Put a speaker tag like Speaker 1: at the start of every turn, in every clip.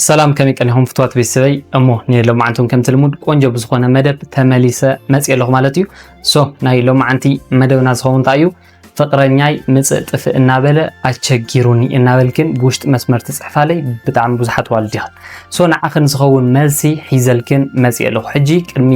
Speaker 1: ሰላም ከመይ ቀኒኹም ፍትዋት ቤተሰበይ እሞ ናይ ሎማዓንቲ እውን ከምቲ ልሙድ ቆንጆ ብዝኾነ መደብ ተመሊሰ መፅእ ኣለኹ ማለት እዩ ሶ ናይ ሎማዓንቲ መደብና ዝኸውን እንታይ እዩ ፍቅረኛይ ምፅእ ጥፍእ እናበለ ኣቸጊሩኒ እናበልክን ብውሽጢ መስመር ትፅሕፋለይ ብጣዕሚ ብዙሓት ዋልዲኽን ሶ ንዓኽን ዝኸውን መልሲ ሒዘልክን መፅእ ኣለኹ ሕጂ ቅድሚ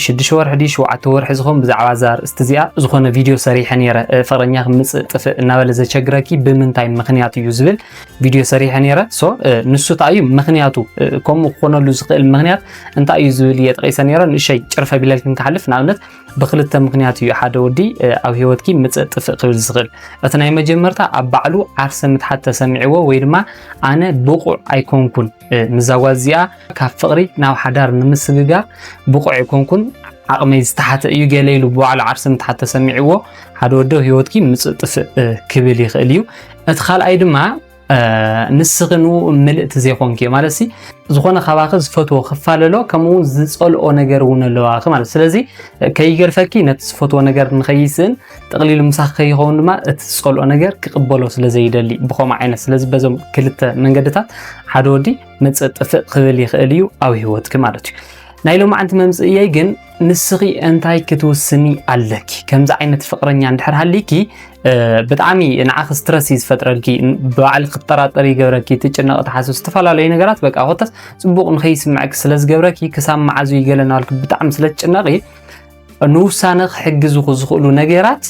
Speaker 1: ሽዱሽተ ወርሒ ድዩ ሸውዓተ ወርሒ ዝኸውን ብዛዕባ እዛ ርእስቲ እዚኣ ዝኾነ ቪድዮ ሰሪሐ ነይረ ፍቅረኛ ክምፅእ ጥፍእ እናበለ ዘቸግረኪ ብምንታይ ምክንያት እዩ ዝብል ቪድዮ ሰሪሐ ነይረ ሶ ንሱ እንታይ እዩ ምክንያቱ ከምኡ ክኾነሉ ዝኽእል ምክንያት እንታይ እዩ ዝብል እየ ጠቂሰ ነይረ ንእሸይ ጭርፈ ቢለልክን ክሓልፍ ንኣብነት ብክልተ ምክንያት እዩ ሓደ ወዲ ኣብ ሂወትኪ ምፅእ ጥፍእ ክብል ዝኽእል እቲ ናይ መጀመርታ ኣብ ባዕሉ ዓርሰ ምትሓት ተሰሚዕዎ ወይ ድማ ኣነ ብቑዕ ኣይኮንኩን ምዛ ጓል እዚኣ ካብ ፍቕሪ ናብ ሓዳር ንምስግጋር ብቑዕ ኣይኮንኩን ዓቕመይ ዝተሓተ እዩ ገለ ኢሉ ብባዕሉ ዓርሰ ምትሓት ተሰሚዕዎ ሓደ ወዶ ሂወትኪ ምፅእ ጥፍእ ክብል ይኽእል እዩ እቲ ካልኣይ ድማ ንስኺ ንኡ ምልእቲ ዘይኮንኪ እዮ ማለት ዝኾነ ካባኺ ዝፈትዎ ክፋለሎ ከምኡ እውን ዝፀልኦ ነገር እውን ኣለዋኺ ማለት ስለዚ ከይገድፈኪ ነቲ ዝፈትዎ ነገር ንኸይስእን ጥቕሊሉ ምሳኺ ከይኸውን ድማ እቲ ዝፀልኦ ነገር ክቕበሎ ስለ ዘይደሊ ብኸምኡ ዓይነት ስለዚ በዞም ክልተ መንገድታት ሓደ ወዲ መፅእ ጥፍእ ክብል ይኽእል እዩ ኣብ ሂወትኪ ማለት እዩ ናይ ሎማዓንቲ መምፅእየይ ግን ንስኺ እንታይ ክትውስኒ ኣለኪ? ከምዚ ዓይነት ፍቅረኛ እንድሕር ሃሊኪ ብጣዕሚ ንዓኺ ስትረስ እዩ ዝፈጥረልኪ፣ ብባዕሊ ክትጠራጠሪ ይገብረኪ፣ ትጭነቂ፣ ትሓስብ ዝተፈላለዩ ነገራት በቃ ኮታስ ፅቡቅ ንከይስምዐኪ ስለ ዝገብረኪ ክሳብ መዓዝ እዩ ገለ እናበልኪ ብጣዕሚ ስለ ትጭነቂ ንውሳነኺ ክሕግዝኹ ዝኽእሉ ነገራት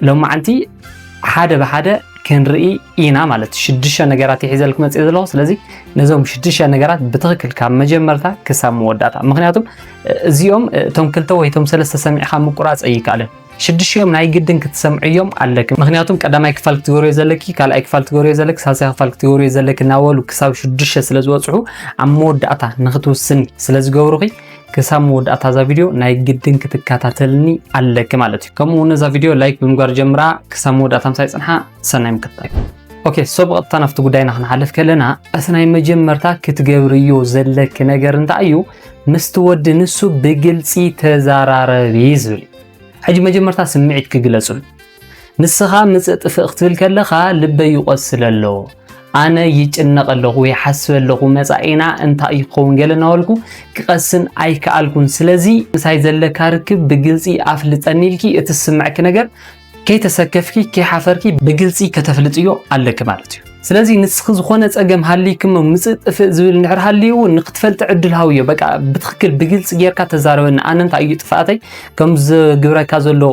Speaker 1: ሎማዓንቲ ሓደ ብሓደ ክንርኢ ኢና ማለት እዩ ሽዱሽተ ነገራት ይሒዘልክ መፅእ ዘለኹ ስለዚ ነዞም ሽዱሽተ ነገራት ብትኽክል ካብ መጀመርታ ክሳብ መወዳእታ ምክንያቱም እዚኦም እቶም ክልተ ወይ እቶም ሰለስተ ሰሚዕካ ምቁራፅ ኣይከኣልን ሽዱሽኦም ናይ ግድን ክትሰምዕዮም ኣለክ ምክንያቱም ቀዳማይ ክፋል ክትገብርዮ ዘለኪ ካልኣይ ክፋል ክትገብርዮ ዘለክ ሳልሳይ ክፋል ክትገብርዮ ዘለክ እናበሉ ክሳብ ሽዱሽተ ስለ ዝበፅሑ ኣብ መወዳእታ ንክትውስኒ ስለ ዝገብሩኺ ክሳብ መወዳእታ እዛ ቪድዮ ናይ ግድን ክትከታተልኒ ኣለኪ ማለት እዩ ከምኡ እውን እዛ ቪድዮ ላይክ ብምግባር ጀምራ ክሳብ መወዳእታ ምሳይ ፅንሓ ሰናይ ምክትታል ኦኬ ሶ ብቐጥታ ናብቲ ጉዳይና ክንሓልፍ ከለና እቲ ናይ መጀመርታ ክትገብርዮ ዘለኪ ነገር እንታይ እዩ ምስቲ ወዲ ንሱ ብግልፂ ተዘራረቢ ዝብል እዩ ሕጂ መጀመርታ ስምዒት ክግለፅሉ ንስኻ ምጽእ ጥፍእ ክትብል ከለኻ ልበይ ይቆስል ኣሎ ኣነ ይጭነቕ ኣለኹ ይሓስብ ኣለኹ መጻኢና እንታይ ይኸውን ገለ እናበልኩ ክቐስን ኣይከኣልኩን ስለዚ ምሳይ ዘለካ ርክብ ብግልፂ ኣፍልጠኒ ኢልኪ እቲ ዝስምዐኪ ነገር ከይተሰከፍኪ ከይሓፈርኪ ብግልፂ ከተፍልጥዮ ኣለኪ ማለት እዩ ስለዚ ንስኺ ዝኾነ ጸገም ሃልይኪ እሞ ምጽእ ጥፍእ ዝብል እንድሕር ሃልዩ እውን ንክትፈልጢ ዕድል ሃብዮ በቃ ብትኽክል ብግልጺ ጌርካ ተዛረበኒ ኣነ እንታይ እዩ ጥፍኣተይ ከም ዝግብረካ ዘሎ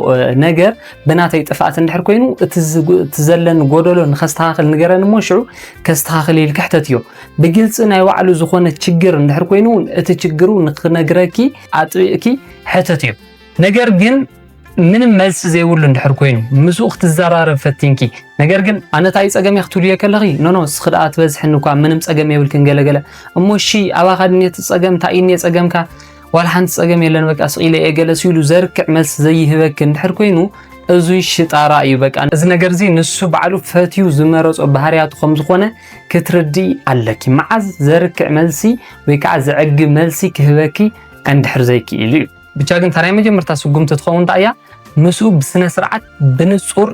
Speaker 1: ነገር ብናተይ ጥፍኣት እንድሕር ኮይኑ እቲ ዘለኒ ጎደሎ ንከስተኻኽል ንገረኒ እሞ ሽዑ ከስተኻኽል ኢልኪ ሕተትዮ ብግልጺ ናይ ባዕሉ ዝኾነ ችግር እንድሕር ኮይኑ እቲ ችግሩ ንክነግረኪ ኣጥቢቕኪ ሕተትዮ ነገር ግን ምንም መልሲ ዘይብሉ እንድሕር ኮይኑ ምስኡ ክትዘራረብ ፈቲንኪ ነገር ግን ኣነ እንታይ ጸገም ክትብልዮ ከለኺ ኖኖ እስኺ ደኣ ትበዝሕኒ እኳ ምንም ጸገም የብልክን ገለገለ እሞ እሺ ኣባኻ ድንየ እቲ ጸገም እንታይ እዩ ድንየ ጸገምካ ዋላ ሓንቲ ጸገም የለን በቃ ስቕ ኢለ እየ ገለ ሲሉ ዘርክዕ መልሲ ዘይህበኪ እንድሕር ኮይኑ እዙይ ሽጣራ እዩ በቃ እዚ ነገር እዚ ንሱ ባዕሉ ፈትዩ ዝመረጾ ባህርያቱ ከም ዝኾነ ክትርድኢ ኣለኪ መዓዝ ዘርክዕ መልሲ ወይ ከዓ ዘዕግብ መልሲ ክህበኪ እንድሕር ዘይክኢሉ እዩ ብቻ ግን እታ ናይ መጀመርታ ስጉምቲ ትኸውን እንታይ እያ ምስኡ ብስነ ስርዓት ብንጹር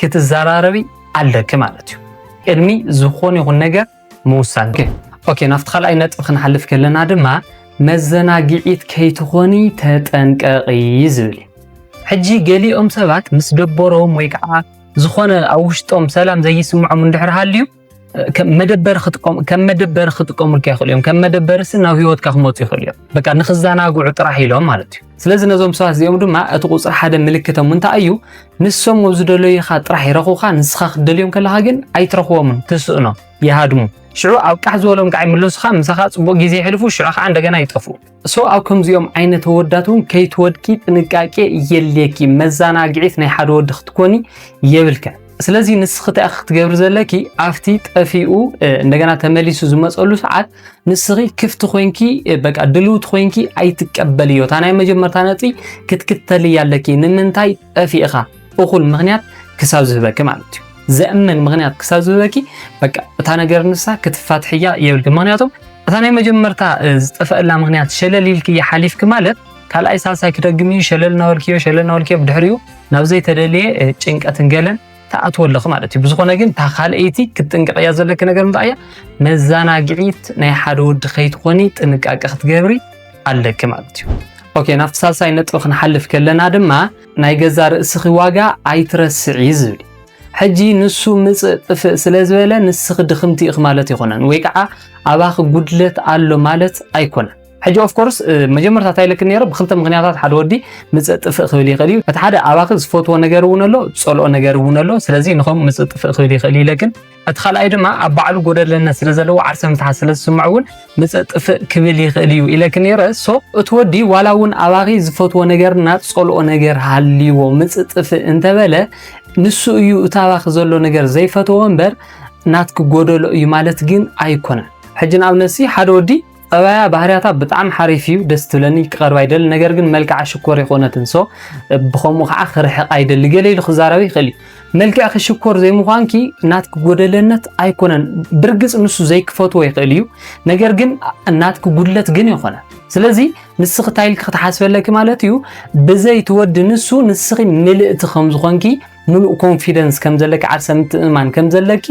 Speaker 1: ክትዘራረቢ ኣለኪ ማለት እዩ ቅድሚ ዝኾነ ይኹን ነገር ምውሳን ኦኬ ናብቲ ካልኣይ ነጥቢ ክንሓልፍ ከለና ድማ መዘናግዒት ከይትኾኒ ተጠንቀቂ ዝብል እዩ ሕጂ ገሊኦም ሰባት ምስ ደበሮም ወይ ከዓ ዝኾነ ኣብ ውሽጦም ሰላም ዘይስምዖም እንድሕር ሃልዩ ከም መደበር ክጥቀሙ ከም መደበር ክጥቀሙልካ ይኽእሉ እዮም። ከም መደበርሲ ናብ ህይወትካ ክመፁ ይኽእሉ እዮም። በቃ ንክዘናግዑ ጥራሕ ኢሎም ማለት እዩ። ስለዚ ነዞም ሰባት እዚኦም ድማ እቲ ቁፅሪ ሓደ ምልክቶም እንታይ እዩ? ንሶም ኣብ ዝደለዩኻ ጥራሕ ይረኹኻ፣ ንስኻ ክትደልዮም ከለኻ ግን ኣይትረኽቦምን፣ ትስእኖ፣ ይሃድሙ። ሽዑ ኣብ ቃሕ ዝበሎም ከዓ ይምለሱኻ፣ ምሳኻ ፅቡቕ ግዜ የሕልፉ፣ ሽዑ ከዓ እንደገና ይጠፍኡ። ሶ ኣብ ከምዚኦም ዓይነት ወዳት እውን ከይትወድቂ ጥንቃቄ የድልየኪ መዘናግዒት ናይ ሓደ ወዲ ክትኮኒ የብልከን ስለዚ ንስኺ እንታይ ክትገብሪ ዘለኪ ኣብቲ ጠፊኡ እንደገና ተመሊሱ ዝመፀሉ ሰዓት ንስኺ ክፍቲ ኮንኪ በቃ ድልውቲ ኮንኪ ኣይትቀበልዮ እታ ናይ መጀመርታ ነጥቢ ክትክተልያ ኣለኪ ንምንታይ ጠፊእኻ እኹል ምክንያት ክሳብ ዝህበኪ ማለት እዩ ዘእምን ምክንያት ክሳብ ዝበኪ በቃ እታ ነገር ንሳ ክትፋትሕያ የብልክ ምክንያቱም እታ ናይ መጀመርታ ዝጠፈአላ ምክንያት ሸለል ኢልክ ሓሊፍክ ማለት ካልኣይ ሳልሳይ ክደግም እዩ ሸለል እናበልክዮ ሸለል እናበልክዮ ብድሕሪኡ ናብ ዘይተደለየ ጭንቀትን ገለን ትኣትዎ ኣለኹ ማለት እዩ ብዝኾነ ግን እታ ካልኣይቲ ክትጥንቀቕያ ዘለኪ ነገር እንታይ እያ መዘናግዒት ናይ ሓደ ወዲ ከይትኾኒ ጥንቃቄ ክትገብሪ ኣለኪ ማለት እዩ ኦኬ ናብቲ ሳልሳይ ነጥቢ ክንሓልፍ ከለና ድማ ናይ ገዛ ርእስኺ ዋጋ ኣይትረስዒ ዝብል እዩ። ሕጂ ንሱ ምጽእ ጥፍእ ስለ ዝበለ ንስኺ ድኽምቲ ኢኺ ማለት ኣይኮነን፣ ወይ ከዓ ኣባኺ ጉድለት ኣሎ ማለት ኣይኮነን። ሕጂ ኦፍ ኮርስ መጀመርታ እንታይ ኢለክን ነይረ ብክልተ ምክንያታት ሓደ ወዲ ምጽእ ጥፍእ ክብል ይኽእል እዩ። እቲ ሓደ ኣባኺ ዝፈትዎ ነገር እውን ኣሎ፣ ዝጸልኦ ነገር እውን ኣሎ። ስለዚ ንኸም ምጽእ ጥፍእ ክብል ይኽእል ኢለክን እቲ ካልኣይ ድማ ኣብ ባዕሉ ጎደለነት ስለ ዘለዎ ዓርሰ ምትሓት ስለ ዝስምዖ እውን ምጸእ ጥፍእ ክብል ይኽእል እዩ ኢለኪ ነይረ ሶ እቲ ወዲ ዋላ እውን ኣባኺ ዝፈትዎ ነገርና ዝጸልኦ ነገር ሃልይዎ ምጽእ ጥፍእ እንተበለ ንሱ እዩ እቲ ኣባኺ ዘሎ ነገር ዘይፈትዎ እምበር ናትኪ ጎደሎ እዩ ማለት ግን ኣይኮነን። ሕጂ ንኣብነት ሲ ሓደ ወዲ ጠባያ ባህርያታ ብጣዕሚ ሓሪፍ እዩ ደስ ትብለኒ ክቐርባ ይደሊ ነገር ግን መልክዓ ሽኮር ይኮነትን ሶ ብከምኡ ከዓ ክርሕቃ ይደሊ ገለ ኢሉ ክዛረብ ይኽእል እዩ መልክዕኪ ሽኮር ዘይምዃንኪ ናትኪ ጎደለነት ኣይኮነን ብርግፅ ንሱ ዘይክፈትዎ ይኽእል እዩ ነገር ግን ናትኪ ጉድለት ግን ይኾነ ስለዚ ንስኺ እንታይ ኢልኪ ክትሓስበለኪ ማለት እዩ ብዘይ ትወዲ ንሱ ንስኺ ምልእቲ ከም ዝኾንኪ ሙሉእ ኮንፊደንስ ከም ዘለኪ ዓርሰ ምትእምማን ከም ዘለኪ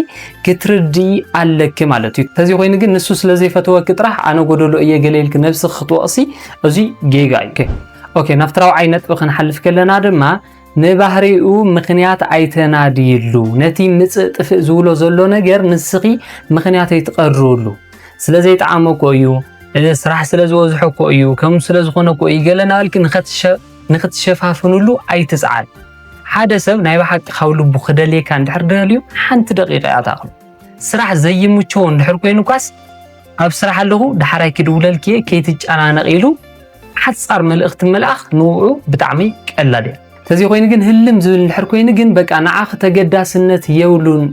Speaker 1: ክትርድኢ ኣለኪ ማለት እዩ። ተዚ ኮይኑ ግን ንሱ ስለ ዘይፈተወኪ ጥራሕ ኣነ ጎደሎ እየ ገለ ኢልኪ ነብስኪ ክትወቕሲ እዙይ ጌጋ እዩ። ኦኬ ናብቲ ራብዓይ ነጥቢ ክንሓልፍ ከለና ድማ ንባህሪኡ ምክንያት ኣይተናድይሉ። ነቲ ምጽእ ጥፍእ ዝብሎ ዘሎ ነገር ንስኺ ምክንያት ኣይትቐርብሉ። ስለ ዘይጠዓሞ እኮ እዩ፣ ስራሕ ስለ ዝበዝሖ እኮ እዩ፣ ከምኡ ስለ ዝኾነ እኮ እዩ ገለ እናበልኪ ንኽትሸፋፍንሉ ኣይትጽዓል። ሓደ ሰብ ናይ ብሓቂ ካብ ልቡ ክደልየካ እንድሕር ደልዩ ሓንቲ ደቂቕ እያ ትኣኽሎ። ስራሕ ዘይምችዎ እንድሕር ኮይኑ ኳስ ኣብ ስራሕ ኣለኹ ዳሕራይ ክድውለልኪ እየ ከይትጨናነቕ ኢሉ ሓጻር መልእኽቲ ምልኣኽ ንውዑ ብጣዕሚ ቀላል እያ። ተዘይ ኮይኑ ግን ህልም ዝብል እንድሕር ኮይኑ ግን በቃ ንዓኺ ተገዳስነት የብሉን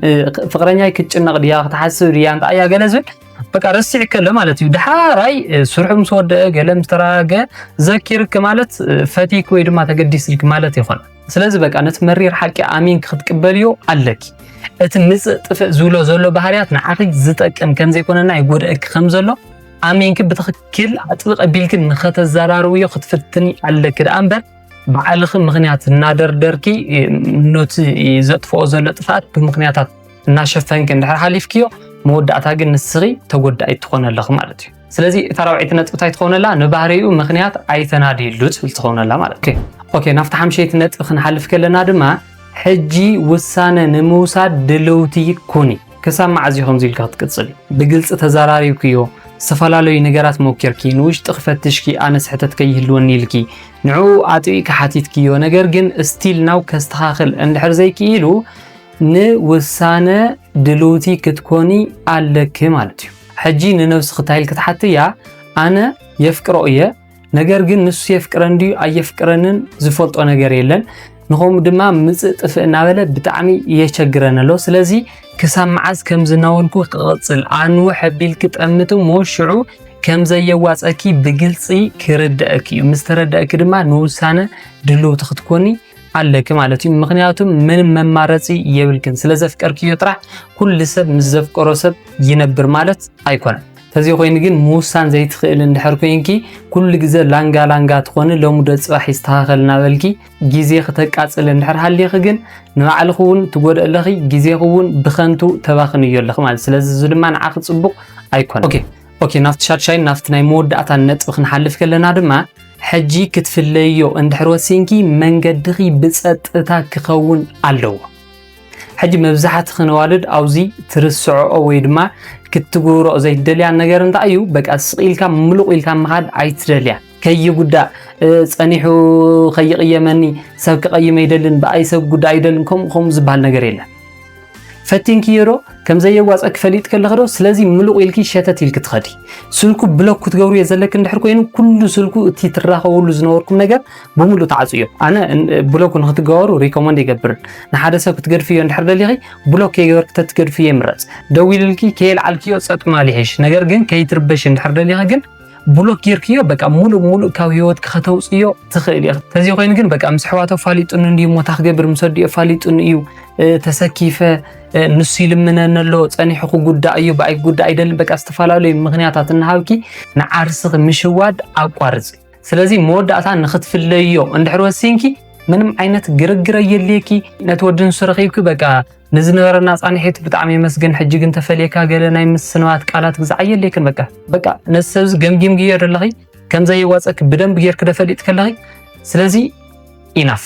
Speaker 1: ፍቕረኛይ ክትጭነቕ ድያ ክትሓስብ ድያ እንታይ እያ ገለ ዝብል በቃ ረሲዕ ከለ ማለት እዩ ድሓራይ ስርሑ ምስ ወደአ ገለ ምስ ተረጋገ ዘኪርክ ማለት ፈቲክ ወይ ድማ ተገዲስልክ ማለት ይኾነ ስለዚ በቃ ነቲ መሪር ሓቂ ኣሚንክ ክትቅበልዮ ኣለኪ እቲ ምፅእ ጥፍእ ዝብሎ ዘሎ ባህርያት ንዓኺ ዝጠቅም ከም ዘይኮነና ይጎድአኪ ከም ዘሎ ኣሚንኪ ብትኽክል ኣጥብቕ ኣቢልኪ ንኸተዘራርብዮ ክትፍትኒ ኣለኪ ደኣ እምበር ባዕልኺ ምኽንያት እናደርደርኪ ነቲ ዘጥፍኦ ዘሎ ጥፍኣት ብምኽንያታት እናሸፈንኪ እንድሕር ሓሊፍክዮ መወዳእታ ግን ንስኺ ተጎዳኢ ትኾነ ኣለኺ ማለት እዩ ስለዚ እታ ራብዐይቲ ነጥቢ እንታይ ትኸውነላ ንባህሪኡ ምክንያት ኣይተናድየሉ ትብል ትኸውነላ ማለት እዩ ኦኬ ናብቲ ሓምሸይቲ ነጥቢ ክንሓልፍ ከለና ድማ ሕጂ ውሳነ ንምውሳድ ድልውቲ ኩኒ ክሳብ መዓዝ እዩ ከምዚ ኢልካ ክትቅፅል ብግልፂ ተዘራሪብክዮ ዝተፈላለዩ ነገራት ሞኪርኪ ንውሽጢ ክፈትሽኪ ኣነስ ሕተት ከይህልወኒ ኢልኪ ንዕኡ ኣጥቢቅካ ሓቲትክዮ ነገር ግን ስቲል ናው ከስተኻኽል እንድሕር ዘይክኢሉ ንውሳነ ድልውቲ ክትኮኒ ኣለኪ ማለት እዩ። ሕጂ ንነብስኺ እንታይ ኢል ክትሓትያ ኣነ የፍቅሮ እየ ነገር ግን ንሱ የፍቅረን ድዩ ኣየፍቅረንን ዝፈልጦ ነገር የለን ንኸምኡ ድማ ምፅእ ጥፍእ እናበለ ብጣዕሚ የቸግረን ኣሎ ስለዚ ክሳብ መዓዝ ከም ዝናወልኩ ክቕፅል ኣንውሕ ኣቢልኪ ጠምቲ እሞ ሽዑ ከም ዘየዋፀኪ ብግልፂ ክርደአኪ እዩ ምስ ተረደአኪ ድማ ንውሳነ ድልውቲ ክትኮኒ ኣለኪ ማለት እዩ። ምክንያቱም ምንም መማረፂ የብልክን ስለ ዘፍቀርክዮ ጥራሕ ኩሉ ሰብ ምስ ዘፍቀሮ ሰብ ይነብር ማለት ኣይኮነን። ተዚ ኮይኑ ግን ምውሳን ዘይትኽእል እንድሕር ኮይንኪ ኩሉ ግዘ ላንጋ ላንጋ ትኾኒ ሎሙደ ፅባሕ ይስተኻኸል እናበልኪ ግዜ ክተቃፅል እንድሕር ሃሊኺ ግን ንባዕልኺ እውን ትጎድእ ኣለኺ ግዜኺ እውን ብከንቱ ተባኽንዮ ኣለኺ ማለት ስለዚ እዚ ድማ ንዓኺ ፅቡቕ ኣይኮነን። ኦኬ ናብቲ ሻድሻይን ናብቲ ናይ መወዳእታን ነጥቢ ክንሓልፍ ከለና ድማ ሕጂ ክትፍለዮ እንድሕር ወሲንኪ መንገድኺ ብፀጥታ ክኸውን ኣለዎ። ሕጂ መብዛሕትኺ ነዋልድ ኣብዚ ትርስዕኦ ወይ ድማ ክትግብሮ ዘይትደልያ ነገር እንታይ እዩ በቃ ስቕ ኢልካ ምሉቕ ኢልካ ምኻድ ኣይትደልያ ከይጉዳእ ጸኒሑ ከይቕየመኒ ሰብ ክቐይም ኣይደልን ብኣይ ሰብ ጉዳእ ኣይደልን ከምኡ ከምኡ ዝበሃል ነገር የለን ፈቲንክዮ ዶ ከም ዘየዋፀኪ ፈሊጥ ከለኺ ዶ ስለዚ ምሉቕ ኢልኪ ሸተት ኢልኪ ትኸዲ ስልኩ ብሎክ ክትገብሩ እየ ዘለኪ እንድሕር ኮይኑ ኩሉ ስልኩ እቲ ትራኸብሉ ዝነበርኩም ነገር ብምሉእ ተዓፅዮ ኣነ ብሎክ ንክትገበሩ ሪኮመንድ ይገብርን ንሓደ ሰብ ክትገድፍዮ እንድሕር ደሊኺ ብሎክ ከይገበርኪ ተትገድፍዮ ይምረፅ ደዊልልኪ ከየልዓልክዮ ፀጥ ምባል ይሕሽ ነገር ግን ከይትርበሽ እንድሕር ደሊኺ ግን ብሎክ ጌርክዮ በቃ ሙሉእ ሙሉእ ካብ ህይወት ከተውፅዮ ትኽእል ኢኻ። ተዘይ ኮይኑ ግን በቃ ምስ ኣሕዋቱ ኣፋሊጡኒ እንድዩ ሞታ ክገብር ምስ ኣዲኡ ኣፋሊጡኒ እዩ ተሰኪፈ ንሱ ይልምነኒ ኣሎ ፀኒሑ ክጉዳእ እዩ ብኣይ ክጉዳእ ኣይደልን በቃ ዝተፈላለዩ ምክንያታት እናሃብኪ ንዓርስኺ ምሽዋድ ኣቋርፂ። ስለዚ መወዳእታ ንክትፍለዮ እንድሕር ወሲንኪ ምንም ዓይነት ግርግር ኣየድልየኪ ነቲ ወዲ ንሱ ረኺብኪ በቃ ንዝነበረና ጻንሒት ብጣዕሚ የመስግን። ሕጂ ግን ተፈልየካ ገለ ናይ ምስንባት ቃላት ግዛዕ የድልየክን በቃ በቃ ነዚ ሰብዚ ገምጊምግዮ ደለኺ ከምዘይዋጸኪ ብደንብ ጌርኪ ደፈልጥ ከለኺ ስለዚ ኢናፍ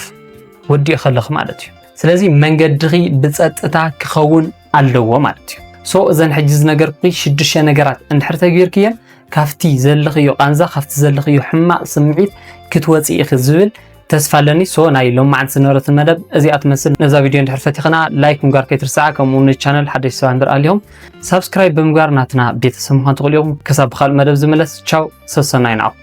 Speaker 1: ወዲኡ ከለኺ ማለት እዩ። ስለዚ መንገድኺ ብጸጥታ ክኸውን ኣለዎ ማለት እዩ። ሶ እዘን ሕጂ ዝነገርኩ ሽዱሽተ ነገራት እንድሕር ተገይርክየን ካብቲ ዘለኽዮ ቃንዛ ካብቲ ዘለኽዮ ሕማቕ ስምዒት ክትወፂ ኢኺ ዝብል ተስፋ ኣለኒ ሶ ናይ ሎም መዓልቲ ዝነበረትን መደብ እዚኣ ትመስል ነዛ ቪድዮ እንድሕር ፈቲኽና ላይክ ምግባር ከይትርስዓ ከምኡ ውን ቻነል ሓደሽ ሰባት እንድር ኣልዮም ሳብስክራይብ ብምግባር ናትና ቤተሰብ ምዃን ትኽእሉ ኢኹም ክሳብ ብካልእ መደብ ዝምለስ ቻው ሰሰናይ ንዓኹም